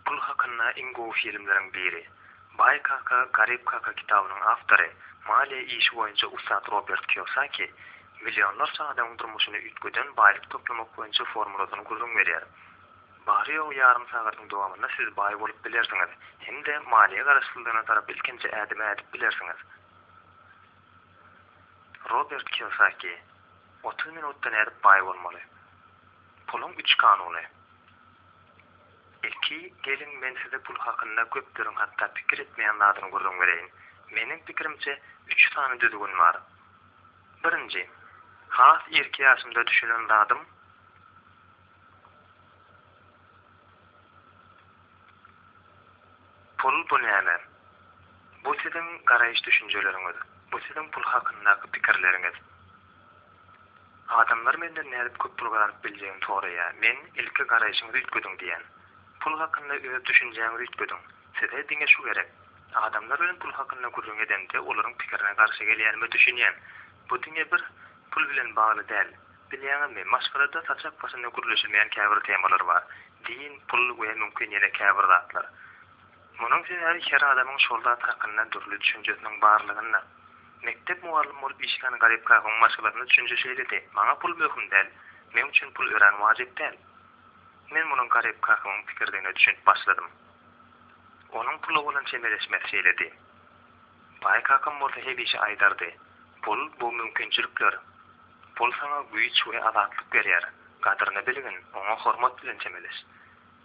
Pul hakynda iň gowy filmleriň biri. Baý kaka, garyp kaka kitabynyň awtory, maliýe işi boýunça ussat Robert Kiosaki millionlarça adamyň durmuşyny üýtgeden baýlyk toplamak boýunça formulasyny gürrüň berýär. Bary-ýogy ýarym sagadyň dowamynda siz baý bolup bilersiňiz hem-de maliýe garaşsyzlygyna tarap ilkinji ädimi ädip bilersiňiz. Robert Kiosaki. Otuz minutda nädip baý bolmaly? Puluň üç kanuny. Ilki, geliň, men size pul hakynda köpleriň hatda pikir etmeýän zadyny gürrüň bereýin. Meniň pikirimçe, üç sany düzgün bar. Birinji, has irki ýaşymda düşünen zadym, Pul bu näme? Bu siziň garaýyş-düşünjeleriňiz. Bu siziň pul hakyndaky pikirleriňiz. Adamlar menden nädip köp pul gazanyp biljegimi soraýar. Men, Ilki garaýşyňyzy üýtgediň diýýän. Pul hakynda öz düşünjäňizi üýtgediň. Size diňe şu gerek. Adamlar bilen pul hakynda gürrüň edemde olaryň pikirine garşy gelýänime düşünýän. Bu diňe bir pul bilen bagly däl. Bilýäňizmi, maşgalada saçak başynda gürleşilmeýän käbir temalar bar. Din, pul we mümkin ýene käbir zatlar. Munuň sebäbi her adamyň şol zat hakynda dürli düşünjesiniň barlygynda. Mekdep mugallym bolup işlän Garyp kakaň maşgalasynda düşünje şeýledi, Maňa pul möhüm däl, meň üçin pul örän wajyp däl. Men munuň Garyp kakamyň pikirdigine düşünip başladym. Onuň pula bolan çemeleşmesi şeýledi. Baý kakam bolsa hemişe aýdardy, Pul, bu mümkinçilikler. Pul saňa güýç we azatlyk berýär. Gadyryny bilgin, oňa hormat bilen çemeleş.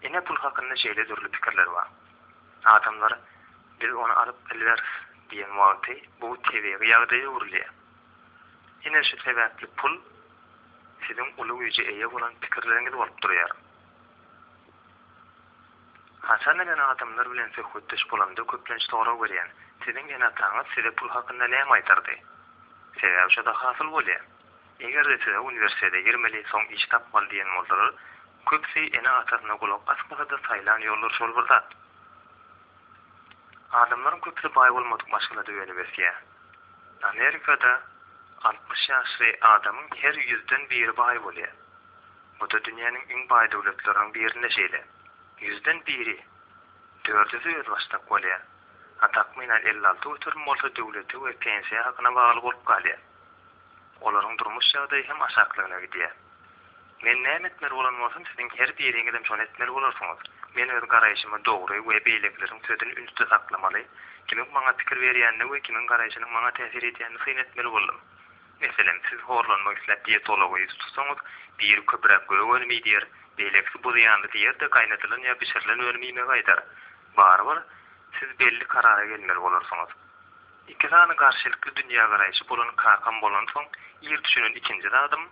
Ine pul hakynda şeýle dürli pikirler bar. Adamlar biz ony alyp bilmeris diýen wagty bu tebigy ýagdaýa öwrülýär. Ine şu sebäpli pul siziň uly güýje eýe bolan pikirleriňiz bolup durýar. Hasan enen adamlar bilen söhbetdeş bolamda köplenç sorag berýän, siziň ene-ataňyz size pul hakynda näme aýdardy? Sebäbi şoda hasyl bolýar. Eger-de size uniwersitete girmeli, soň iş tapmaly diýen bolsalar, köpüsi ene-atasyna gulak asmasa-da saýlan ýollar şol bir zat. Adamlaryň köpüsi baý bolmadyk maşgalada önüp ösýär. Amerikada altmyş ýaşly adamyň her ýüzden biri baý bolýar. Bu-da dünýäniň iň baý döwletleriniň birinde şeýle. Ýüzden biri, dördüsi özbaşdak bolýar. A takmynan elli alty göterim bolsa döwlete we pensiýa hakyna bagly bolup galýar. Olaryň durmuş ýagdaýy hem aşaklygyna gidýär. Men näme etmeli bolan bolsam, siziň her biriňizem şony etmeli bolarsyňyz. Men öz garaýşymy dogry we beýlekileriň sözüni ünsde saklamaly, kimiň maňa pikir berýänine we kimiň garaýşynyň maňa täsir edýänini syn etmeli boldum. Meselem, siz horlanmak isläp dietologa ýüz tutsaňyz, biri köpräk gök önüm iý diýer, beýlekisi buzy ýanly diýer-de gaýnadylan ýa bişirilen önüm iýmegi aýdar. Barybir, siz belli karara gelmeli bolarsyňyz. Iki sany garşylykly dünýägaraýşy bolan kakam bolansoň ir düşünen ikinji zadym,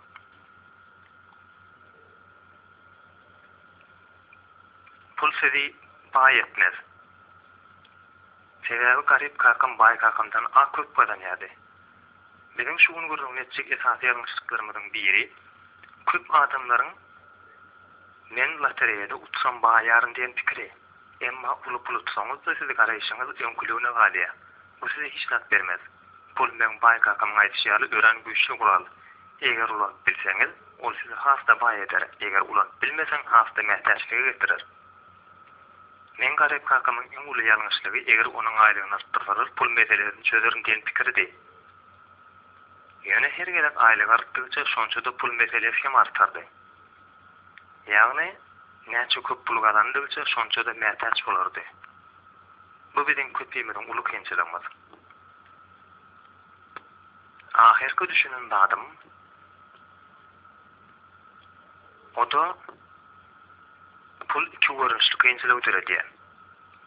Pul sizi baý etmez. Sebäbi garyp kakam baý kakamdan a köp gazanýardy. Biziň şu gün gürrüňini etjek esasy ýalňyşlyklarymyzyň biri, köp adamlaryň Men lotereýada utsam baýaryn diýen pikiri. Emma uly pul utsaňyz-da sizi garaýşyňyz öňküligine galýar. Bu size hiç zat bermez. Pul meň baý kakamyň aýdyşy ýaly örän güýçli gural. Eger ulanyp bilseňiz, ol sizi has-da baý eder, eger ulanyp bilmeseň has-da mätäçlige getirer. Meň garyp kakamyň iň uly ýalňyşlygy eger onuň aýlygyny artdyrsalar pul meselesini çözerin diýen pikiridi. Ýöne her gezek aýlygy artdygça şonça-da pul meselesi hem artardy. Ýagny, näçe köp pul gazandygyça şonça-da mätäç bolardy. Bu biziň köpimiziň uly kynçylygymyz. Ahyrky düşünen zadym, o-da, pul iki görnüşli kynçylygy döredýär.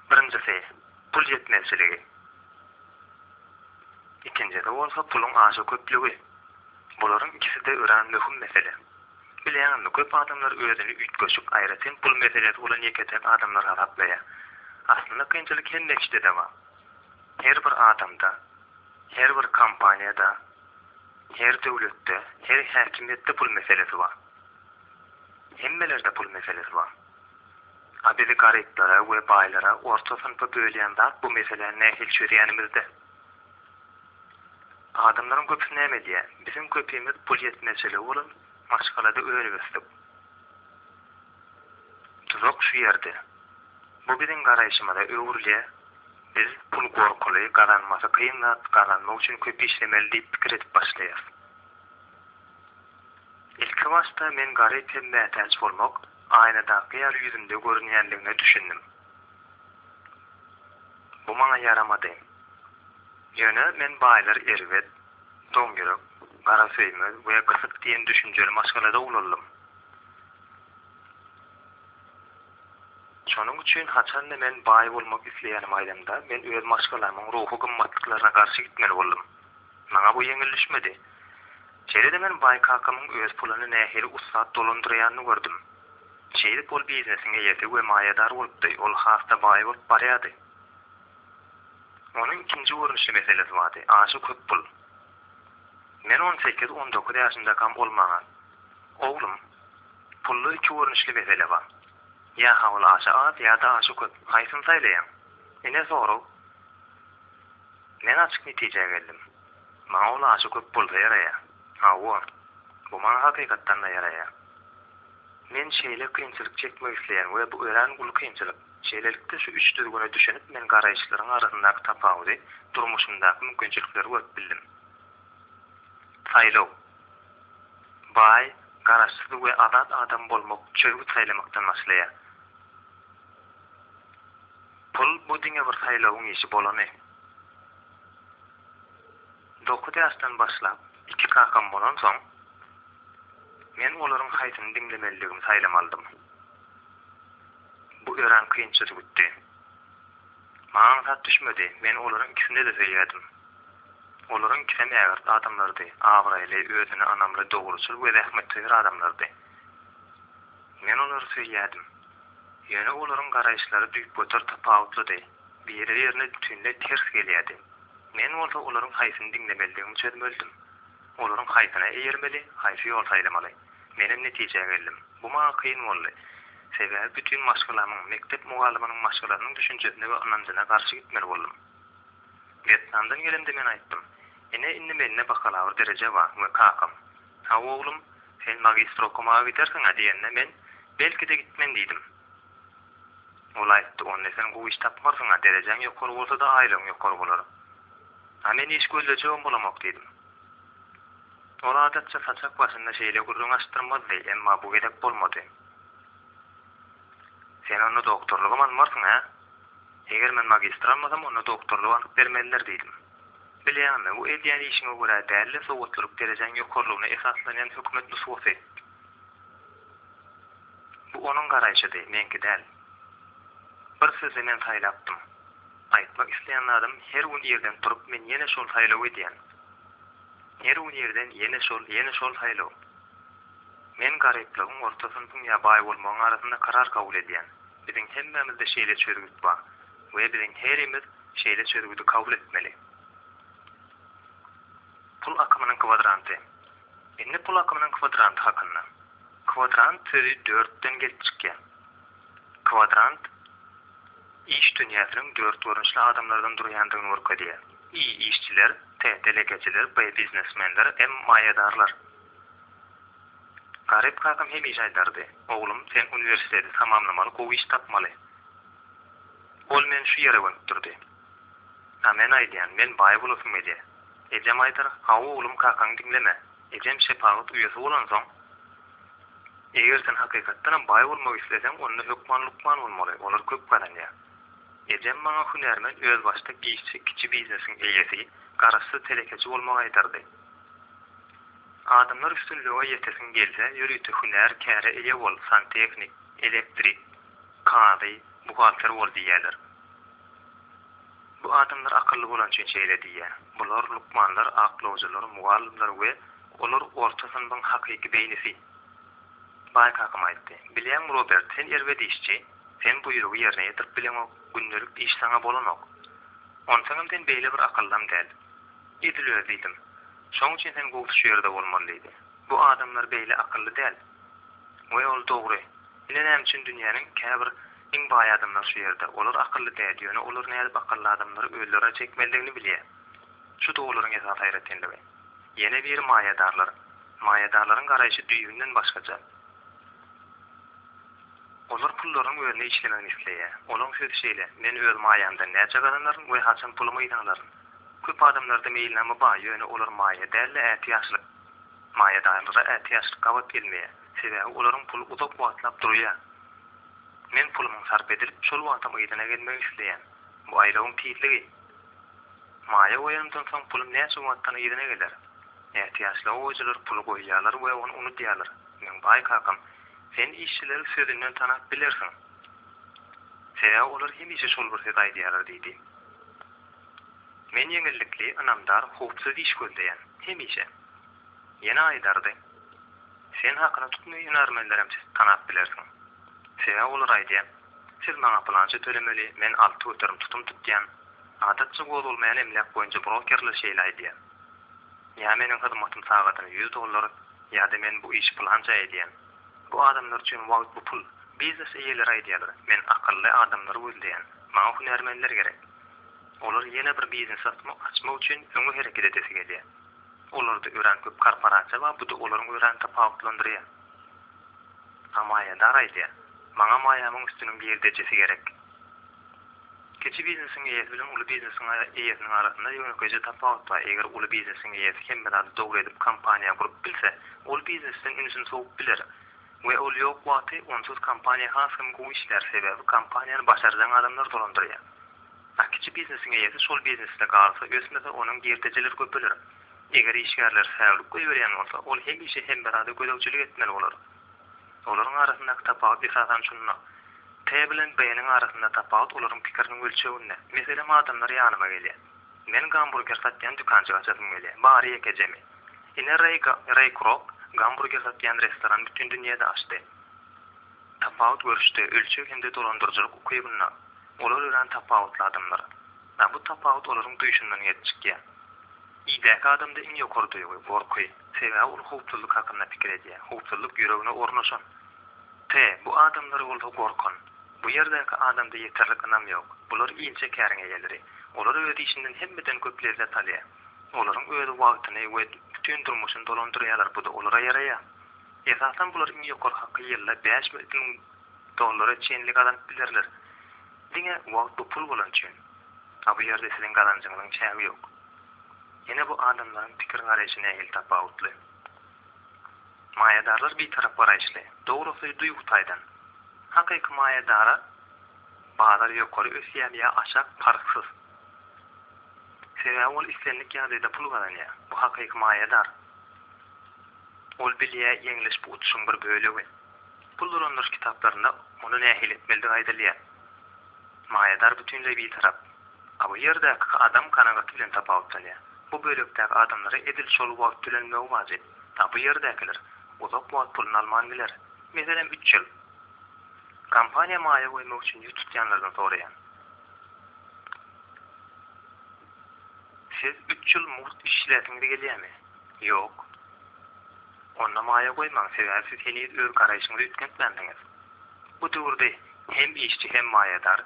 Birinjisi, pul ýetmezçiligi. Ikinjisi bolsa, puluň aşa köplügi. Bularyň ikisi-de örän möhüm mesele. Bilýäňizmi, köp adamlar özüni üýtgeşik, aýratyn pul meselesi bolan ýeke-täk adamlar hasaplaýar. Aslynda kynçylyk hemme kişide-de bar. Her bir adamda, her bir kompaniýada, her döwletde, her häkimiýetde pul meselesi bar. Hemmelerde pul meselesi bar. A bizi garyplara we baýlara, orta synpa bölýän zat bu meseläni nähili çözýänimizde. Adamlaryň köpüsi näme edýär? Biziň köpimiz pul ýetmezçiligi bolan maşgalada önüp ösdük. Tuzak şu ýerde. Bu biziň garaýşymyza öwrülýär, biz pul gorkuly, gazanmasy kyn zat, gazanmak üçin köp işlemeli diýip pikir edip başlaýarys. Ilki başda men garyp hem mätäç bolmak, aýnadaky ýaly ýüzümde görünýändigine düşündim. Bu maňa ýaramady. Ýöne men baýlar erbet, doňýürek, garasöýmez we gysyk diýen düşünjeli maşgalada ugraldym. Şonuň üçin haçanda men baý bolmak isleýänimi aýdamda, men öz maşgalamyň ruhy gymmatlyklaryna garşy gitmeli boldum. Maňa bu ýeňil düşmedi. Şeýle-de men baý kakamyň öz puluny nähili ussat dolandyrýanyny gördüm. Şeýdip ol biznesiň eýesi we maýadar bolupdy, ol has-da baý bolup barýardy. Onuň ikinji görnüşli meselesi bardy, aşa köp pul. Men on sekiz, on dokuz ýaşymdakam ol maňa, Oglum, pulda iki görnüşli mesele bar. Ýa habyl aşa az, ýa-da aşa köp, haýsyny saýlaýaň? Ine sorag. Men açyk netijä geldim. Maňa ol aşa köp bolsa ýaraýar. Hawa, bu maňa hakykatdan-da ýaraýar. Men şeýle kynçylyk çekmek isleýän we bu örän uly kynçylyk. Şeýlelikde şu üç düzgüne düşünip men garaýyşlaryň arasyndaky tapawudy, durmuşymdaky mümkinçilikleri görüp bildim. Saýlaw. Baý, garaşsyz we azat adam bolmak çözgüt saýlamakdan başlaýar. Pul bu diňe bir saýlawyň işi bolany. Dokuz ýaşdan başlap, iki kakam bolansoň, men olaryň haýsyny diňlemelidigimi saýlamalydym. Bu örän kynça jübütdi. Maňa aňsat düşmedi, men olaryň ikisine-de söýýärdim. Olaryň ikisem ägirt adamlardy, abraýly, özüne ynamly, dogruçyl we zähmetsöýer adamlardy. Men olary söýýärdim. Ýöne olaryň garaýyşlary düýpgöter tapawutlydy. Biri-birine bütinleý ters gelýärdi. Men bolsa olaryň haýsyny diňlemelidigimi çözmelidim. Olaryň haýsyna eýermeli, haýsy ýol saýlamaly? Menem netijä geldim. Bu maňa kyn boldy. Sebäbi bütin maşgalamyň, mekdep mugallymynyň maşgalasynyň düşünjesine we ynanjyna garşy gitmeli boldum. Wýetnamdan gelemde men aýtdym, Ine, indi mende bakalawr dereje bar we kakam, Haw, oglum, sen magistra okamaga gidersiň-ä diýende men, Belki-de gitmen diýdim. Ol aýtdy, Onda sen gowy iş tapmarsyň-a, derejäň ýokary bolsa-da, aýlygyň ýokary bolar. A men iş gözlejegem bolamok diýdim. Ol adatça saçak başynda şeýle gürrüň açdyrmazdy, emma bu gezek bolmady. Sen onda doktorlygam almarsyň-a? Eger men magistr almasam, onda doktorlygy alyp bermezler diýdim. Bilýäňmi, bu edýän işiňe görä däl-de, sowatlylyk derejäň ýokarylygyna esaslanýan hökümet nusgasy. Bu onuň garaýşydy, meňki däl. Bir sözi men saýlapdym. Aýtmak isleýän zadym her gün irden turup men ýene şol saýlaw edýän. Her gün irden ýene şol, ýene şol saýlaw. Men garyplygyň, orta synpyň ýa baý bolmagyň arasynda karar kabul edýän. Biziň hemmämizde şeýle çözgüt bar we biziň herimiz şeýle çözgüdi kabul etmeli. Pul akymynyň kwadranty. Indi pul akymynyň kwadranty hakynda. Kwadrant sözi dörtden gelip çykýar. Kwadrant iş dünýäsiniň dört görnüşli adamlardan durýandygyny görkezýär. I işçiler, t delegeçiler, b biznesmenler, m maýadarlar. Garyp kakam hemişe aýdardy, Oglum, sen uniwersiteti tamamlamaly, gowy iş tapmaly. Ol meni şu ýere gönükdirdi. A men aýdýan, men baý bolasym gelýä. Ejem aýdar, Hawa oglum kakaňy diňleme. Ejem şepagat uýasy bolansoň, Eger sen hakykatdanam baý bolmak isleseň, onda hökman lukman bolmaly, olar köp gazanýar. Ejem maňa hünärmen, özbaşdak işçi, kiçi biznesiň eýesi, garaşsyz telekeçi bolmagy aýdardy. Adamlar üstünlige ýetesiň gelse, ýörite hünär, käre eýe bol, santehnik, elektrik, kazy, buhgalter bol diýýärler. Bu adamlar akylly bolany üçin şeýle diýýär. Bular lukmanlar, aklawjylar, mugallymlar we olar orta synbyň hakyky beýnisi. Baý kakam aýtdy. Bilýäňmi Robert, sen erbet işçi. Sen buýrugy ýerine ýetirip bileňok, gündelik iş saňa bolanok. Onsoňam sen beýle bir akyllym däl. Edil özi diýdim. Şoň üçin sen gowusy şu ýerde bolmaly diýdi. Bu adamlar beýle akylly däl. We ol dogry. Ine näme üçin dünýäniň käbir Iň baý adamlar şu ýerde. Olar akylly däl, ýöne olar nädip akylly adamlary özlerine çekmelidigini bilýär. Şu-da olaryň esasy aýratynlygy. Ýene biri maýadarlar. Maýadarlaryň garaýşy düýbünden başgaça. Olar pullarynyň özüne işlemegini isleýär. Olaryň sözi şeýle, Men öz maýamdan näçe gazanaryn we haçan pulumy yzarlaryn? Köp adamlarda meýilnama bar, ýöne olar maýa däl-de ätiýaçlyk. Maýadarlara ätiýaçlyk gabat gelmeýär. Sebäbi olaryň puly uzak wagtlap durýar. Men pulumyň sarp edilip, şol wagtam yzyna gelmegi isleýän. Bu aýlawyň tizligi. Maýa goýanymdan soň pulum näçe wagtdan yzyna geler? Ätiýaçly goýujylar puly goýýarlar we ony unudýarlar. Meň baý kakam, Sen işçileri sözünden tanap bilersiň. Sebäbi olar hemişe şol bir sözi aýdýarlar diýdi. Men ýeňillikli, ynamdar, howpsuz iş gözleýän. Hemişe. Ýene aýdardy. Sen hakyna tutma hünärmenlerem siz tanap bilersiň. Sebäbi olar aýdýar, Siz maňa pylança tölemeli, men alty göterim tutum tutýan. Adatça gozgalmaýan emläk boýunça brokerler şeýle aýdýar. Ýa meniň hyzmatym sagadyna ýüz dollar, ýa-da men bu işi pylança edýän. Bu adamlar üçin wagt bu pul. Biznes eýeleri aýdýarlar, men akylly adamlary gözleýän, maňa hünärmenler gerek. Olar ýene bir biznes açmak üçin öňe hereket edesi gelýär. Olarda örän köp korporasiýa bar, bu-da olaryň örän tapawutlandyrýar. A maýadar aýdýar, Maňa maýamyň üstüniň girdejisi gerek. Kiçi biznesiň eýesi bilen uly biznesiň eýesiniň arasynda ýönekeýje tapawut bar, eger uly biznesiň eýesi hemme zady dogry edip kompaniýa gurup bilse, ol biznesden ünsüni sowup biler we ol ýok wagty onsuz kompaniýa has hem gowy işlär, sebäbi kompaniýany başarjaň adamlar dolandyrýar. A Kiçi biznesiň eýesi şol biznesde galsa, ösmese, onuň girdejileri köpeler. Eger işgärleri säwlik goýberýän bolsa, ol hemişe hemmärada gözegçilik etmeli bolar. Olaryň arasyndaky tapawut esasan şunda. T bilen B-niň arasynda tapawut olaryň pikiriniň ölçeginde. Meselem, adamlar ýanyma gelýär. Men gamburger satýan dükanjyk açasym gelýär. Bary ýekejemi. Ine Reý Reý Krok gamburger satýan restoran bütin dünýäde açdy. Tapawut görüşde ölçeg hem-de dolandyryjylyk ukybynda olar örän tapawutly adamlar. Ýa bu tapawut olaryň duýşundan gelip çykýar. Idäki adamda iň ýokary duýgy, gorky. Sebäbi ol howpsuzlyk hakynda pikir edýär, howpsuzlyk ýüregine ornaşan. T, bu adamlar bolsa gorkan. Bu ýerdäki adamda ýeterlik ynam ýok. Bular inçe käriň eýeleri. Olar öz işinden hemmeden köp lezzet alýar. Olaryň özi wagtyny we bütin durmuşyny dolandyrýarlar, bu-da olara ýaraýar. Esasan bular iň ýokary haky ýylda bäş müň dollara çenli gazanyp bilerler. Diňe wagt bu pul bolan üçin. A bu ýerde siziň gazanjyňyzyň çägi ýok. Ýene bu adamlaryň pikir-garaýşy nähili tapawutly. Maýadarlar bitarap garaýyşly, dogrusy duýgy taýdan. Hakyky maýadara bazar ýokary ösýär ýa aşak parhsyz. Sebäbi ol islendik ýagdaýda pul gazanýar. Bu hakyky maýadar. Ol bilýä, ýeňliş bu uçuşyň bir bölegi. Pul dolandyryş kitaplarynda muny nähili etmelidigi aýdylýar. Maýadar bütinleý bitarap. A bu ýerdäki adam kanagaty bilen tapawutlanýar. Bu bölekdäki adamlara edil şol wagt tölenmegi wajyp. A bu ýerdäkiler uzak wagt puluny alman biler. Meselem, üç ýyl. Kompaniýa maýa goýmak üçin ýüz tutýanlardan soraýan. Siz üç ýyl mugt işläsiňiz gelýämi? Ýok. Onda maýa goýmaň, sebäbi siz heniz öz garaýşyňyzy üýtgetmänsiňiz. Bu döwürde hem işçi hem maýadar,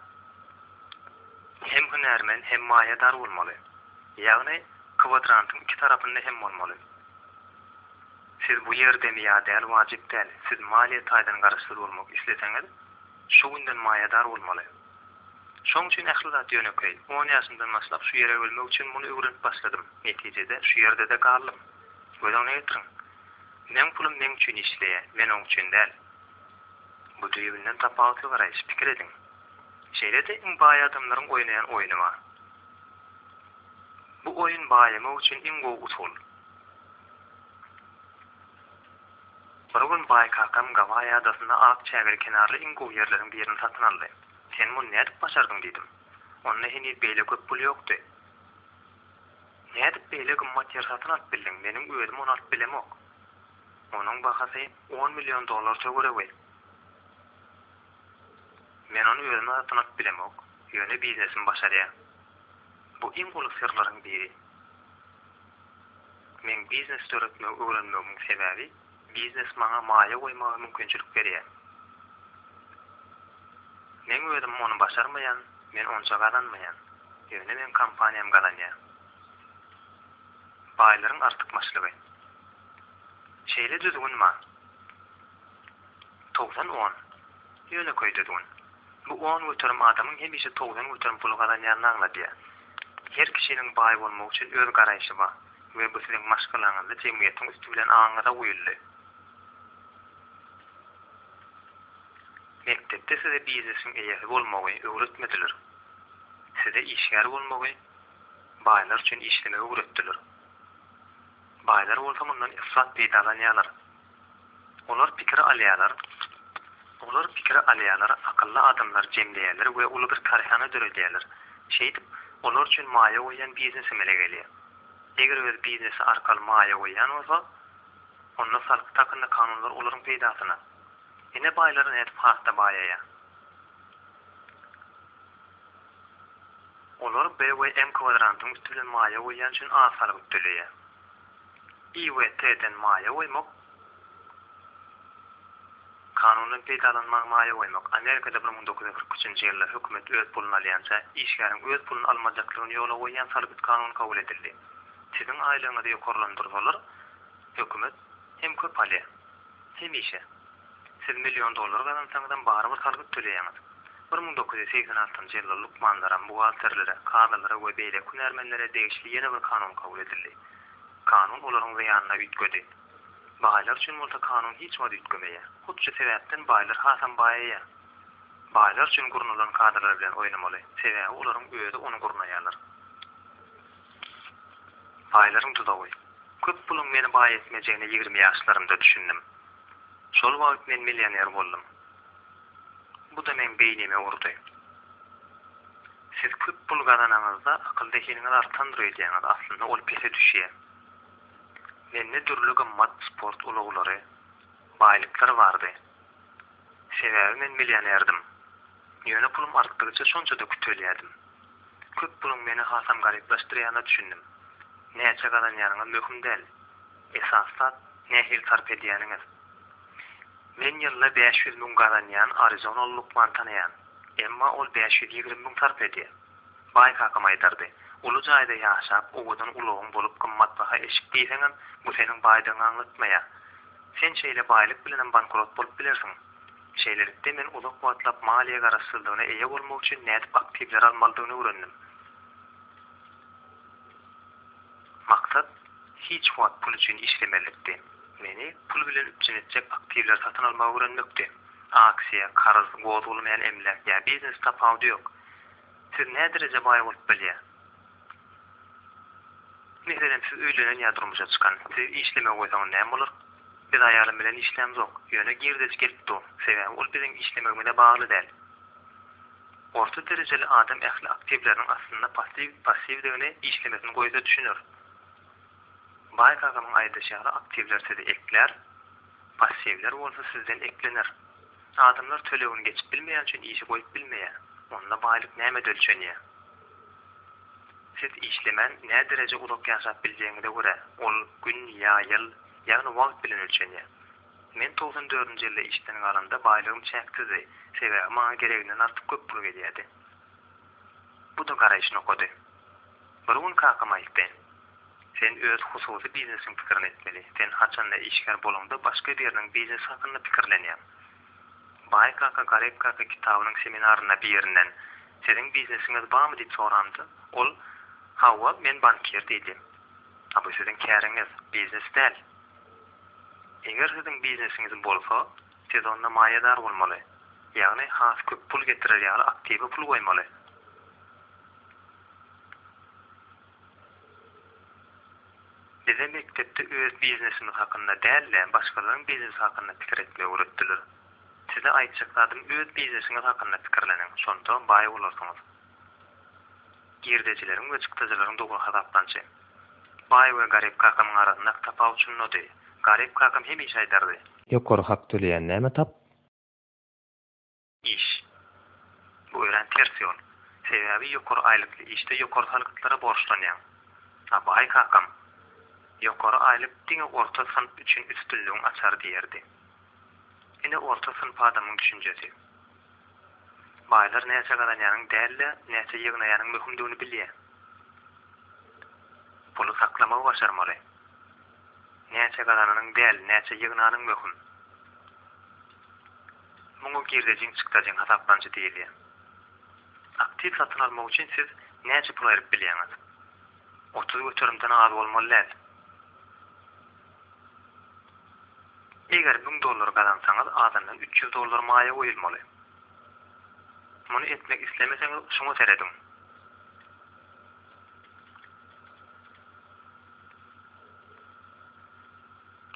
hem hünärmen hem maýadar bolmaly. Ýagny kwadrantyň iki tarapynda hem bolmaly. Siz bu ýerdemi ýa däl wajyp däl, siz maliýe taýdan garaşsyz bolmak isleseňiz, Şu günden maýadar bolmaly. Şoň üçin ähli zat ýönekeý. On ýaşymdan başlap şu ýere ölmek üçin muny öwrenip başladym. Netijede, şu ýerde-de galdym. Göz öňüne getiriň. Meň pulum meň üçin işleýä, men oň üçin däl. Bu düýbünden tapawutly garaýyş. Pikir ediň. Şeýle-de iň baý adamlaryň oýnaýan oýny bar. Bu oýun baýamak üçin iň gowy usul. Bir gün baý kakam Gawaý adasynda ak çägeli kenarly iň gowy ýerleriň birini satyn aldy. Sen muny nädip başardyň diýdim. Onda heniz beýle köp pul ýokdy. Nädip beýle gymmat ýer satyn alyp bildiň, meniň özüm ony alyp bilemok. Onuň bahasy on million dollar töweregi. Men ony özüm satyn alyp bilemok, ýöne biznesim başarýar. Bu iň uly syrlaryň biri. Meň biznes döretmegi öwrenmegimiň sebäbi, biznes maňa maýa goýmaga mümkinçilik berýär. Meň özüm ony başarmaýan, men onça gazanmaýan. Ýöne meň kompaniýam gazanýar. Baýlaryň artykmaçlygy. Şeýle düzgün bar. Togsan on. Ýönekeý düzgün. Bu on göterim adamyň hemişe togsan göterim pul gazanýanyny aňladýar. Her kişiniň baý bolmak üçin öz garaýşy bar we bu siziň maşgalaňyzda jemgyýetiň üsti bilen aňyňyza guýuldy. Mekdepde size biznesiň eýesi bolmagy öwretmediler. Size işgär bolmagy, baýlar üçin işlemegi öwretdiler. Baýlar bolsa mundan yfrat peýdalanýarlar. Olar pikir alýarlar, olar pikir alýarlar, akylly adamlary jemleýärler we uly bir kärhana döredýärler. Şeýdip, olar üçin maýa goýýan biznes emele gelýär. Eger öz biznesi arkaly maýa goýýan bolsa, onda salgyt hakynda kanunlar olaryň peýdasyna. Ine baýlar nädip has-da baýaýar. Olar B we M kwadrantyň üsti bilen maýa goýýan üçin az salgyt töleýär. IWT-den maýa goýmak, Kanundan peýdalanmagy maýa goýmak, Amerikada bir müň dokuz ýüz kyrk üçünji ýylda hökümet öz puluny alýança işgäriň öz puluny almajakdygyny ýola goýýan salgyt kanuny kabul edildi. Siziň aýlygyňyzy ýokarlandyrsalar, hökümet hem köp alýar. Hemişe. Siz million dollar gazansaňyzam barybir salgyt töleýäňiz. Bir müň dokuz ýüz segsen altynjy ýylda lukmanlara, buhgalterlere, kazylara we beýleki hünärmenlere degişli ýene bir kanun kabul edildi. Kanun olaryň zyýanyna üýtgedi. Baýlar üçin bolsa kanun hiç wagt üýtgemeýär. Hut şu sebäpden baýlar hasam baýaýar. Baýlar üçin gurnalan kadalar bilen oýnamaly, sebäbi olaryň özi ony gurnaýarlar. Baýlaryň duzagy. Köp puluň meni baý etmejegine ýigrimi ýaşlarymda düşündim. Şol wagt men millioner boldum. Bu-da meň beýnime urdy. Siz köp pul gazananyňyzda akyl-zehiniňiz artandyr öýdýäňiz, aslynda ol pese düşýär. Mende dürli gymmat sport ulaglary, baýlyklar bardy. Sebäbi men millionerdim. Ýöne pulum artdygyça şonça-da kütelýärdim. Köp puluň meni hasam garyplaşdyrýanyna düşündim. Näçe gazanýanyňyz möhüm däl. Esasy zat, nähili sarp edýäniňiz. Men ýylda bäş ýüz müň gazanýan arizonaly lukman tanaýan. Emma ol bäş ýüz ýigrimi müň sarp edýär. Baý kakam aýdardy, Uly jaýda ýaşap, owadan ulagyň bolup gymmatbaha eşik geýseňem, bu seniň baýdygyňy aňlatmaýar. Sen şeýle baýlyk bilenem bankrot bolup bilersiň. Şeýlelikde, men uzak wagtlap maliýe garaşsyzlygyna eýe bolmak üçin nädip aktiwleri almalydygyny öwrendim. Maksat hiç wagt pul üçin işlemezlikdi. Meni pul bilen üpjün etjek aktiwleri satyn almagy öwrenmekdi. Aksiýa, karz, gozgalmaýan emläk ýa biznes tapawudy ýok. Siz nädereje baý bolup bilýär? Meselem, siz öýlenen ýa durmuşa çykan. Sizi işlemä goýsaň näme bolar? Biz aýalym bilen işlämzok. Ýöne girdeji gelip dur. Sebäbi ol biziň işlemegimize bagly däl. Orta derejeli adam ähli aktiwleriniň aslynda passiw, passiwdigini işlemesini goýsa düşüner. Baý kakamyň aýdyşy ýaly aktiwler sizi eklär, passiwler bolsa sizden eklener. Adamlar tölegini geçip bilmeýän üçin işi goýup bilmeýär. Onda baýlyk nämede ölçenýär? Siz işlemän nädereje uzak ýaşap biljegiňize görä, ol gün ýa ýyl, ýagny wagt bilen ölçenýär. Men togsan dördünji ýylda işden galanda baýlygym çäksizdi, sebäbi maňa gereginden artyk köp pul gelýärdi. Bu-da garaýyş nokady. Bir gün kakam aýtdy, Sen öz hususy biznesiň pikirini etmeli. Sen haçanda işgär bolaňda başga biriniň biznesi hakynda pikirlenýäň. Baý kaka, garyp kaka kitabynyň seminarynda birinden, Siziň biznesiňiz barmy diýip sorandym. Ol, Hawa, men bankir diýdi. A bu siziň käriňiz, biznes däl. Eger siziň biznesiňiz bolsa, siz onda maýadar bolmaly, ýagny has köp pul getirer ýaly aktiwa pul goýmaly. Bize mekdepde öz biznesimiz hakynda däl-de, başgalaryň biznesi hakynda pikir etmegi öwretdiler. Size aýtjak zadym öz biznesiňiz hakynda pikirleniň, şonda baý bolarsyňyz. Girdejileriň we çykdajylaryň dogry hasaplanşy. Baý we garyp kakamyň arasyndaky tapawut şundady, garyp kakam hemişe aýdardy. Ýokary hak töleýän näme tap? Iş. Bu örän ters ýol. Sebäbi ýokary aýlykly işde ýokary salgytlara borçlanýaň. A baý kakam, Ýokary aýlyk diňe orta synp üçin üstünligiň açary diýerdi. Ine orta synp adamyň düşünjesi. Baýlar näçe gazanýanyň däl-de, näçe ýygnaýanyň möhümdigini bilýä. Puly saklamagy başarmaly. Näçe gazananyň däl, näçe ýygnanyň möhüm. Muňa girdejiň çykdajyň hasaplanyjy diýilýär. Aktiw satyn almak üçin siz näçe pul aýryp bilýäňiz? Otuz göterimden az bolmaly däl. Eger müň dollar gazansaňyz azyndan üç ýüz dollar maýa goýulmaly. Muny etmek islemeseňiz şuňa serediň.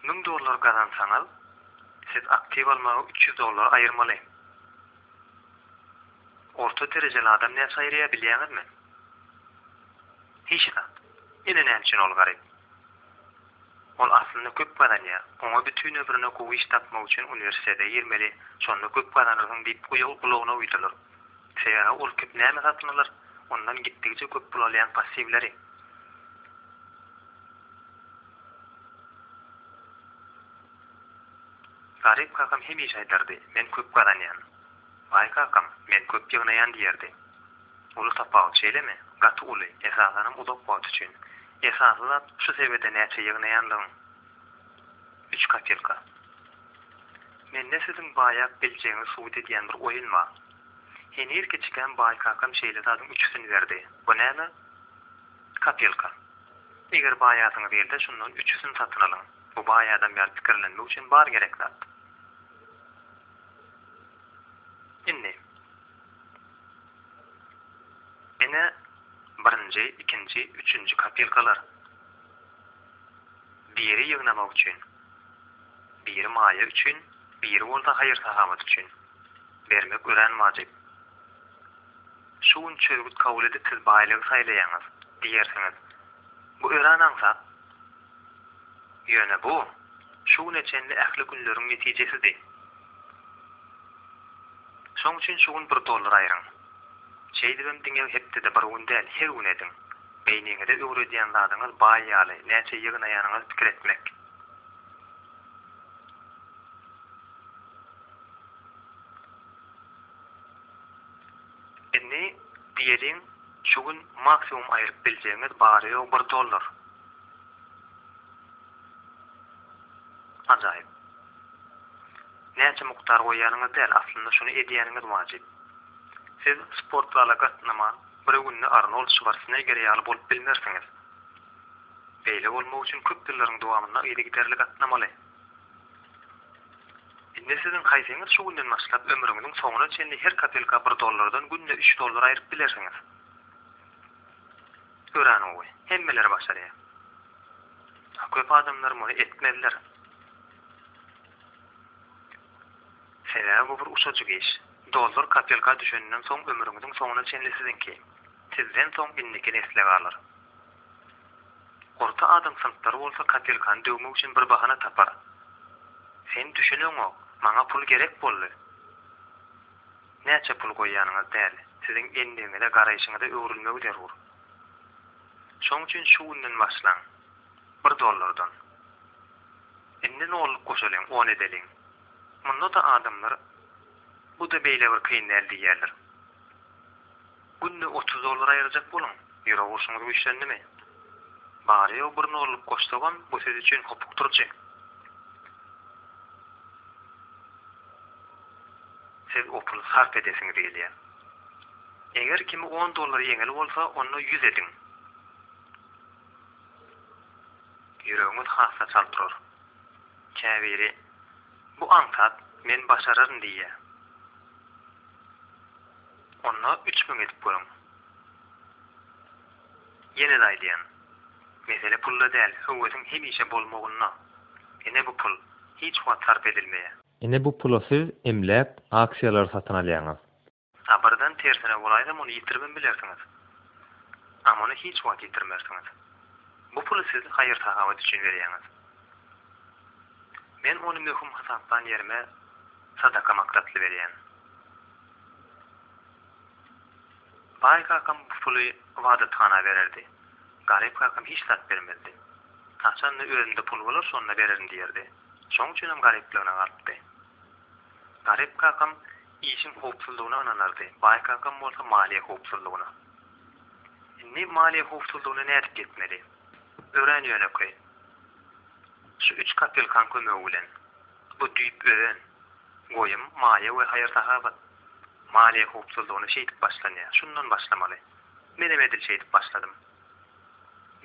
Müň dollar gazansaňyz, siz aktiw almaga üç ýüz dollar aýyrmaly. Orta derejeli adam näçe aýyrýar bilýäňizmi? Hiç zat. Ine näme üçin ol garyp. Ol aslynda köp gazanýar. Oňa bütin ömrüne gowy iş tapmak üçin uniwersitete girmeli, şonda köp gazanarsyň diýip gulagyna uýdular. Sebäbi ol köp näme satyn alar, ondan gitdigiçe köp pul alýan passiwleri. Garyp kakam hemişe aýdardy, men köp gazanýan. Baý kakam, men köp ýygnaýan diýerdi. Uly tapawut şeýlemi? Gaty uly, esasanam uzak wagt üçin. Esasy zat şu sebede näçe ýygnaýanlygyň. Üç kapelka. Mende siziň baýap biljegiňizi subut edýän bir oýun bar. Heniz kiçikäm baýkakam şeýle zadyň üçüsini berdi. Bu näme? Kapelka. Eger baýasyňyz gelse, şundan üçüsini satyn alyň. Bu baý adam ýaly pikirlenmek üçin bar gerek zat. Indi. Ene, birinji, ikinji, üçünji kapelkalar. Biri ýygnamak üçin. Biri maýa üçin, biri bolsa haýyr-sahawat üçin. Bermek örän wajyp. Şu gün çözgüt kabul edip siz baýlygy saýlaýaňyz, diýersiňiz. Bu örän aňsat. Ýöne bu, şu güne çenli ähli günleriň netijesidi. Şoň üçin şu gün bir dollar aýryň. Şeýdibem diňe hepdede bir gün däl, her gün ediň. Beýniňize öwredýän zadyňyz baý ýaly, näçe ýygnaýanyňyz pikir etmek. Indi diýeliň şu gün maksimum aýryp biljegiňiz bary ýogy bir dollar. Ajaýyp. Näçe mukdar goýýanyňyz däl aslynda şuny edýäniňiz wajyp. Siz sport zala gatnaman bir günde Arnold Şwarsneger ýaly bolup bilmersiňiz. Beýle bolmak üçin köp ýyllaryň dowamynda yzygiderli gatnamaly. Indi siziň haýsyňyz şu günden başlap ömrüňiziň soňuna çenli her kapelka bir dollardan günde üç dollar aýryp bilersiňiz? Örän gowy. Hemmeler başarýar. A köp adamlar muny etmezler. Sebäbi bu bir uçajyk iş. Dollar kapelka düşeninden soň ömrüňiziň soňuna çenli siziňki. Sizden soň indiki nesle galar. Orta adam synplary bolsa kapelkany döwmek üçin bir bahana tapar. Sen düşüneňok, maňa pul gerek boldy. Näçe pul goýýanyňyz däl, siziň endigiňize, garaýşyňyza öwrülmegi zerur. Şoň üçin şu günden başlaň. Bir dollardan. Indi nolluk goşalyň, on edeliň. Munda-da adamlar, Bu-da beýle bir kyn däl diýýärler. Günde otuz dollar aýyrjak boluň. Ýürek urşuňyz güýçlendimi? Barýa-u bir nollyk goşsagam, bu siz üçin hopuk durjy. Siz o puly sarp edesiňiz gelýär. Eger kimi on dollar ýeňil bolsa, onda ýüz ediň. Ýüregiňiz hasda çalt urar. Käbiri, Bu aňsat, men başararyn diýýär. Onda üç müň edip görüň. Ýene-de aýdýan. Mesele pulda däl, höwesiň hemişe bolmagynda. Ine bu pul, hiç wagt sarp edilmeýä. Ine bu pula siz emläk, aksiýalary satyn alýaňyz. A birden tersine bolaýda muny ýitiribem bilersiňiz. A muny hiç wagt ýitirmersiňiz. Bu puly siz haýyr-sahawat üçin berýäňiz. Men ony möhüm hasaplan ýerime sadaka maksatly berýän. Baý kakam bu puly ybadathana bererdi. Garyp kakam hiç zat bermezdi. Haçanda özümde pul bolar şonda bererin diýerdi. Şoň üçinem garyplygyna galypdy. Garyp kakam işiň howpsuzlygyna ynanardy, baý kakam bolsa maliýe howpsuzlygyna. Indi maliýe howpsuzlygyna nädip ýetmeli? Örän ýönekeý. Şu üç kapelkaň kömegi bilen. Bu düýp özen, goýum, maýa we haýyr-sahawat. Maliýe howpsuzlygyna şeýdip başlanýar. Şundan başlamaly. Menem edil şeýdip başladym.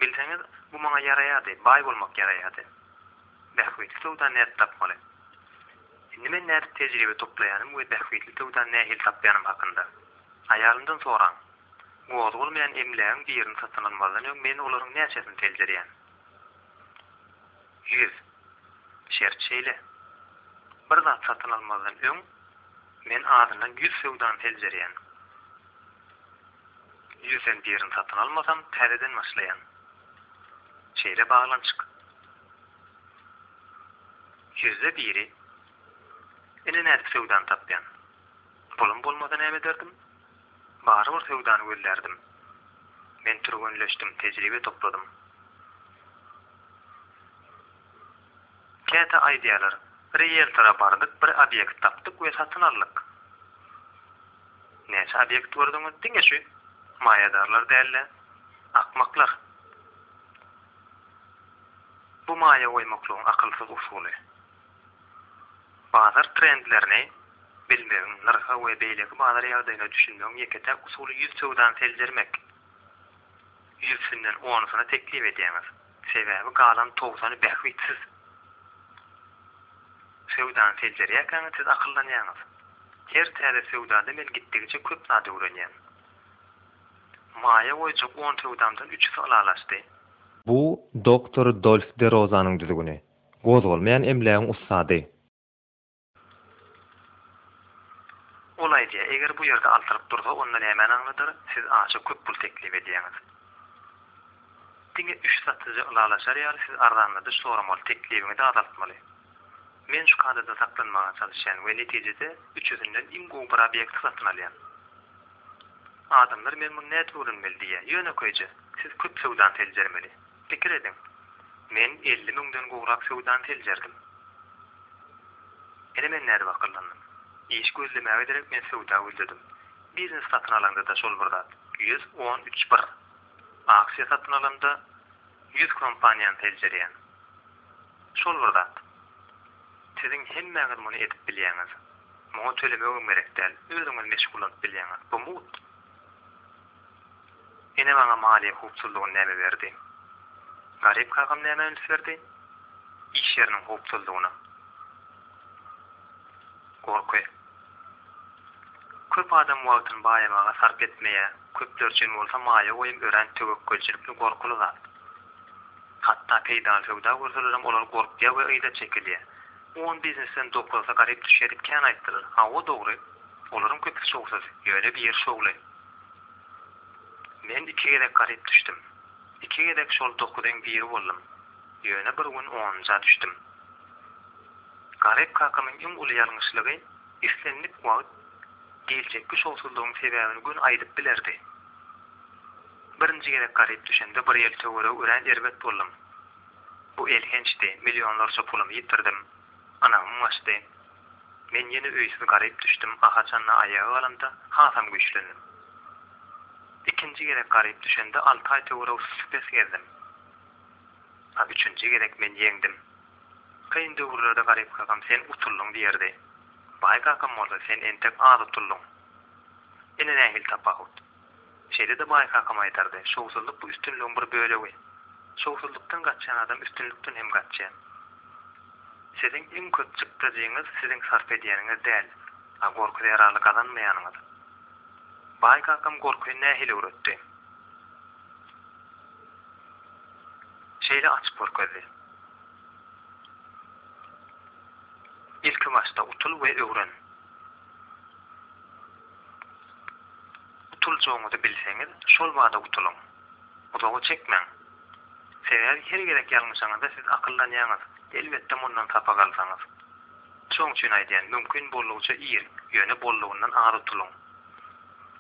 Bilseňiz, bu maňa ýaraýardy, baý bolmak ýaraýardy. Bähbitli söwda nädip tapmaly? Indi men nädip tejribe toplaýanym we bähbitli söwda nähili tapýanym hakynda. Aýalymdan soraň. Gozgalmaýan emlägiň birini satyn almazdan öň men olaryň näçesini seljerýän? Ýüz. Şert şeýle. Bir zat satyn almazdan öň men azyndan ýüz söwdany seljerýän. Ýüzden birini satyn almasam, täzeden başlaýan. Şeýle baglanyşyk. Ýüzde biri. Ine nädip söwdany tapýan. Pulum bolmasa näme ederdim? Barybir söwdany gözlärdim. Men türgenleşdim, tejribe topladym. Käte aýdýarlar, Rieltora bardyk, bir obýekt tapdyk we satyn aldyk. Näçe obýekt gördüňiz? Diňe şu. Maýadarlar däl-de, akmaklar. Bu maýa goýmaklygyň akylsyz usuly. Bazar trendlerini bilmegiň, nyrha we beýleki bazar ýagdaýyna düşünmegiň ýeke-täk usuly ýüz söwdany seljermek. Ýüzsünden onusyna teklip edýäňiz. Sebäbi galan togsan bähbitsiz. Söwdany seljerýärkäňiz siz akyllanýaňyz. Her täze söwdada men gitdigiçe köp zat öwrenýän. Maýa goýjak on söwdamdan üçüsi ylalaşdy. Bu doktor Dolf de Rozanyň düzgüni. Gozgalmaýan emlägiň ussady. Ol aýdýar, Eger bu ýerde altylyk dursa, onda nämäni aňladar, siz aşa köp pul teklip edýäňiz. Diňe üç satyja ylalaşar ýaly siz arzanladyş soramaly, teklibiňizi azaltmaly. Men şu kadadan saklanmaga çalyşýan we netijede üçüsinden iň gowy bir obýekti satyn alýan. Adamlar men muny nädip öwrenmeli diýýär. Ýönekeýje, siz köp söwdany seljermeli. Pikir ediň, men elli müňden gowrak söwdany seljerdim. Ine men nädip akyllandym. Iş gözlemäge derek men söwda gözledim. Biznes satyn alaňda-da şol bir zat. Ýüz on üç bir. Aksiýa satyn alamda ýüz kompaniýany seljerýän. Şol bir zat. Siziň hemmäňiz muny edip bilýäňiz. Muňa tölemegem gerek däl. Özüňiz meşgullanyp bilýäňiz. Bu mugt. Ene maňa maliýe howpsuzlygyny näme berdi? Garyp kakam nämä üns berdi? Iş ýeriniň howpsuzlygyna. Gorky. Köp adam wagtyny baýamaga sarp etmeýär, köpler üçin bolsa maýa goýum örän töwekgelçilikli gorkuly zat. Hatda peýdaly söwda görselerem olar gorkýar we yza çekilýär. On biznesden dokuzysy garyp düşýär diýip kän aýtdylar. Hawa dogry, olaryň köpüsi şowsuz, ýöne biri şowly. Men iki gezek garyp düşdüm. Iki gezek şol dokuzyň biri boldum. Ýöne bir gün onunja düşdüm. Garyp kakamyň iň uly ýalňyşlygy, islendik wagt geljekki şowsuzlygyň sebäbini gün aýdyp bilerdi. Birinji gezek garyp düşende bir ýyl töweregi örän erbet boldum. Bu elhençdi, millionlarça pulumy ýitirdim, ynamym gaçdy. Men ýene öýsüz garyp düşdüm, a haçan-da aýaga galamda, hasam güýçlendim. Ikinji gezek garyp düşende alty aý töwerek süsük-pes gezdim. A üçünji gezek men ýeňdim. Kyn döwürlerde garyp kakam sen utuldyň diýerdi. Baý kakam bolsa sen entek az utuldyň. Ine nähili tapawut. Şeýle-de Baý kakam aýdardy, Şowsuzlyk bu üstünligiň bir bölegi. Şowsuzlykdan gaçýan adam üstünlikden hem gaçýar. Siziň iň köp çykdajyňyz siziň sarp edýäniňiz däl, a gorky zerarly gazanmaýanyňyz. Baý kakam gorky nähili öwretdi? Şeýle açyp görkezdi. Ilkibaşda utul we öwren. Gutuljagyňyzy bilseňiz, şol bada gutulyň. Uzaga çekmäň. Sebäbi her gezek ýalňyşaňyzda siz akyllanýaňyz, elbetde mundan sapak alsaňyz. Şoň üçin aýdýan, mümkin boldugyça ir, ýöne boldugyndan az utulyň.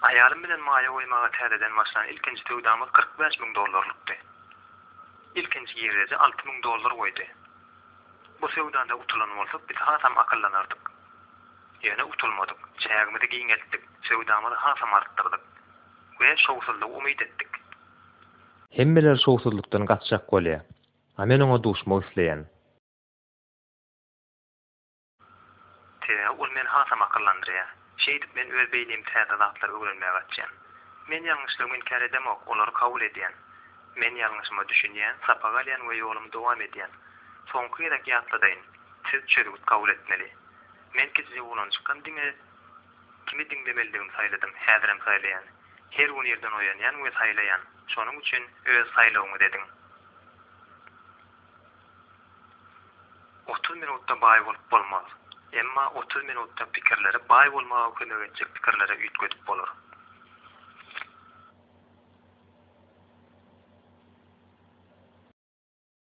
Aýalym bilen maýa goýmaga täzeden başlan ilkinji söwdamyz kyrk bäş müň dollarlykdy. Ilkinji girdeji alty müň dollar goýdy. Bu söwdada utulan bolsak biz hasam akyllanardyk. Ýöne utulmadyk, çägimizi giňeltdik, söwdamyzy hasam artdyrdyk we şowsuzlygy umyt etdik. Hemmeler şowsuzlykdan gaçjak bolýar, a men oňa duşmak isleýän. Sebäbi ol meni hasam akyllandyrýar. Şeýdip men öz beýnimi täze zatlary öwrenmäge açýan. Men ýalňyşlygymy inkär edemok, olary kabul edýän. Men ýalňyşyma düşünýän, sapak alýan we ýolumy dowam edýän. Soňky gezek ýatladaýyn, siz çözgüt kabul etmeli. Men kiçijik oglan çykgam diňe kimi diňlemelidigimi saýladym, häzirem saýlaýan. Her gün irden oýanýan we saýlaýan, şonuň üçin öz saýlawyňyz ediň. Otuz minutda baý bolup bolmaz. Emma otuz minutda pikirleri baý bolmaga kömek etjek pikirlere üýtgedip bolar.